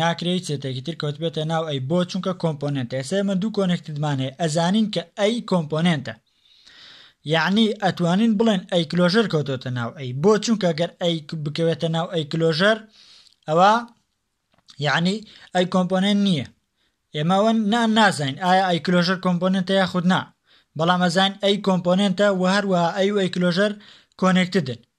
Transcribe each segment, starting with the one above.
ناکرێ هیچ سێتێکی تر کەوتبێتە ناو ئەی بۆ چونکە کۆمپۆنێنتە ئێستا ئێمە دوو کۆنێکتدمان هەیە ئەزانین کە ئەی کۆمپۆنێنتە یعنی ئەتوانین بڵێن ئەی کلۆژەر کەوتۆتە ناو ئەی بۆ چونکە گەر ئەی بکەوێتە ناو ئەی کلۆژەر ئەوە یعنی ئەی کۆمپۆنێنت نییە ئێمەوە نا نازین ئایا ئەی کلۆژەر کۆمپۆنێنتە یا خودنا بەڵام ئەزان ئەی کۆمپۆنێنتە و هەروە ئەی ئەی کلۆژەر کۆنێکتدن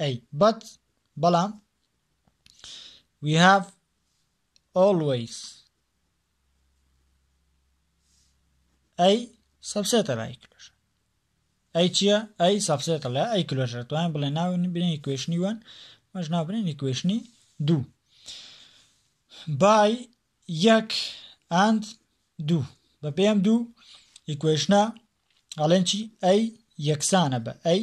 ئەی بەت بەڵام we have always ئەی سەبسێتە لە ئەی کلۆژە ئەی چییە ئەی سەبسێتە لە ئەی کلۆژە توانین بڵێ ناوین بنێ کوێشنی وەن مەژ ناوبنێنی کوێشنی دوو بای یەک ئاند دوو بە پێم دوو ئیکوێشنە ئەڵێن چی ئەی یەکسانە بە ئەی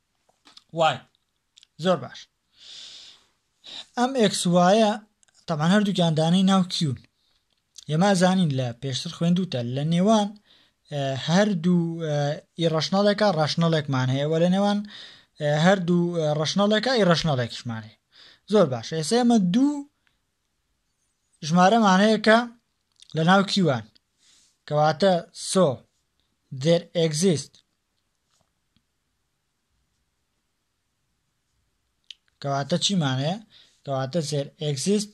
وای زۆر باش ئەم ئێکس وایە تەمان هەردووکیان دانەی ناو کیون ئێمە زانین لە پێشتر خوێندوتە لە نێوان هەردوو ئیڕەشنەڵێکە ڕەشنەڵێکمان هەیە وە لە نێوان هەردوو ڕەشنەڵێکە ئی ڕەشنەڵێکشمان هەیە زۆر باش ئێستا ئێمە دوو ژمارەمان هەیە کە لە ناو کیوان کەواتە سۆ دێر ئەگزیست کەواتە چیمان هەیە کەواتە زێر ئەگزیست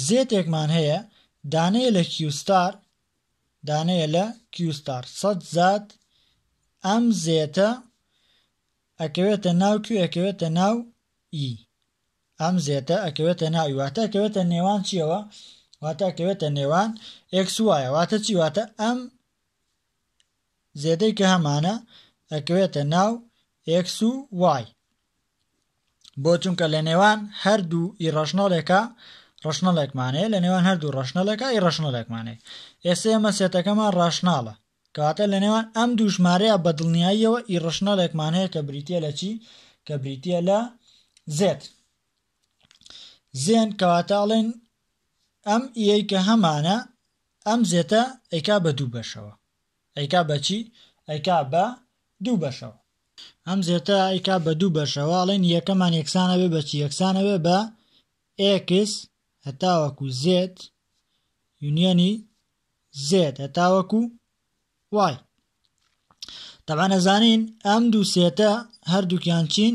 زێتێکمان هەیە دانەیە لە کیوستار دانەیە لە کیوستار سەد زات ئەم زێتە ئەکەوێتە ناو کوێ ئەکەوێتە ناو ئی ئەم زێتە ئەکەوێتە ناوی واتە ئەکەوێتە نێوان چیەوە واتە ئەکەوێتە نێوان ئەکس وایە واتە چی واتە ئەم زێدەی کە هەمانە ئەکەوێتە ناو ئێکس و وای بۆ چونکە لە نێوان هەردوو ئی ڕەشنەڵێکە ڕەشنەڵێکمانەیە لە نێوان هەردوو ڕەشنەڵێکە ئی ڕەشنەڵێکمانەیە ئێستا ئێمە سێتەکەمان ڕاشناڵە کەواتە لە نێوان ئەم دووژمارەیە بە دڵنیاییەوە ئی ڕەشنەڵێکمان هەیە کە بریتە لە چی کە بریتە لە زێت زێن کەواتە ئەڵێن ئەم ئیەی کە هەمانە ئەم زێتە ئەیکا بە دوو بەشەوە. ئەیکا بە چی؟ ئەیکا بە دوو بەشەوە. ئەم زێتە ئەیکا بە دوو بەشەوە، ئەڵێن یەکەمان یەکسان ئەبێ بە چی؟ یەکسان ئەبێ بە ئێکس هەتاوەکو زێد یونیەنی زێد هەتاوەکو وای. تەبعەن ئەزانین ئەم دوو سێتە هەردووکیان چین؟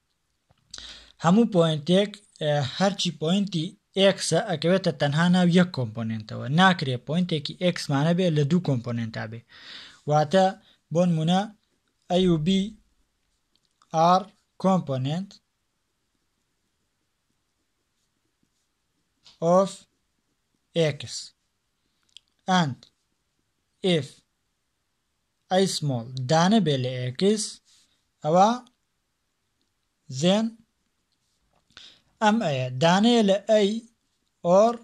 هەموو پۆینتێک هەرچی پۆینتی ئێکسە ئەکەوێتە تەنها ناو یەک کۆمپۆننتەوە ناکرێ پۆینتێکی ئێکسمانە بێ لە دوو کۆمپۆننتا بێ واتە بۆن منە ئەUB R کۆمپۆننت of x and if ئایسمۆڵ دانە بێ لە ئێکس ئەوا زێن ئەم ئەیە دانەیە لە ئەی ئۆر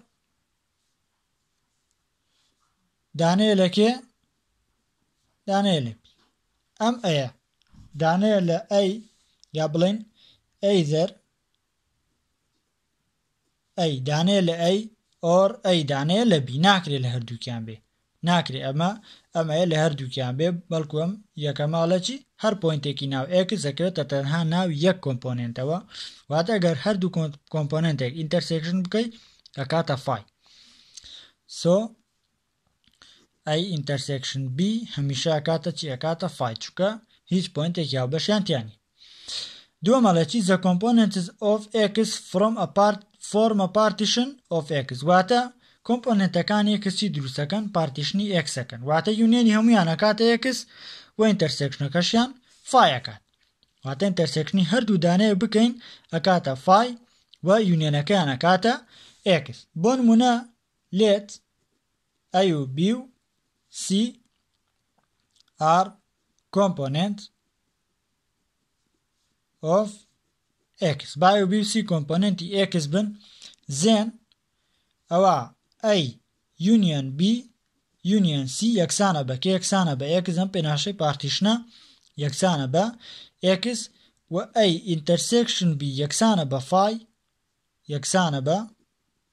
دانەیە لە کێ دانەیە لە پی ئەم ئەیە دانەیە لە ئەی یا بڵێن ئەیزەر ئەی دانێ لە ئەی ئۆر ئەی دانێ لە بی ناکرێ لە هەردووکیان بێ ناکرێ ئەمە ئەمەیە لە هەردووکیان بێ بەڵکو ئەم یەکەمە لە چی هەر پۆینتێکی ناو ئێکس دەکەوێتە تەنها ناو یەک کۆمپۆنێنتەوە واتە گەر هەردوو کۆمپۆنێنتێک ئینتەرسێکشن بکەیت ئەکاتە فای سۆ ئەی ئینتەرسێکشن بی هەمیشە ئەکاتە چی ئەکاتە فای چونکە هیچ پۆینتێکی هاوبەشیان تیا نیە دووەم ئەڵێ چی the components of x from a part form a partition of x واتە کۆمپۆننتەکانی x چی دروستەکەن پارتیشنی x ئەکەن واتە یونیەنی هەمویان ئەکاتە x و ئینتەرسێکشنەکەشیان فای ئەکات واتە ئینتەرسێکشنی هەردوو دانەیە بکەین ئەکاتە فای و یونیەنەکەیان ئەکاتە x بۆ نمونە لێت ئەی و بی و سی ئار کۆمپۆنێنت ئۆف ئێکس با ئەی و بی و سی کۆمپۆنێنتی ئێکس بن زێن ئەوە ئەی یونیەن بی یونیەن سی یەکسانە بە کە یەکسانە بە ئێکس ئەم پێناشەی پارتیشنە یەکسانە بە ئێکس و ئەی ئینتەرسێکشن بی یەکسانە بە فای یەکسانە بە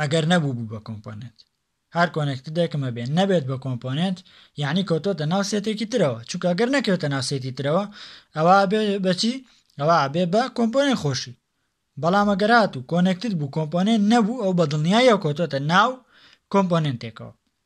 ئەگەر نەبوو بوو بە کۆمپۆنێنت هەر کۆنێکتدێکم هەبێ نەبێت بە کۆمپۆنێنت یعنی کەوتۆتە ناو سێتێکی ترەوە چونکە گەر نەکەوێتە ناو سێتی ترەوە ئەوە بێ بەچی ئەوە بێ بە کۆمپۆنێن خۆشی بەڵام ئەگەرات و کۆنێکتت بوو کۆمپۆنێن نەبوو ئەو بە دڵنیایە کۆتۆتە ناو کۆمپۆنێنتێکەوە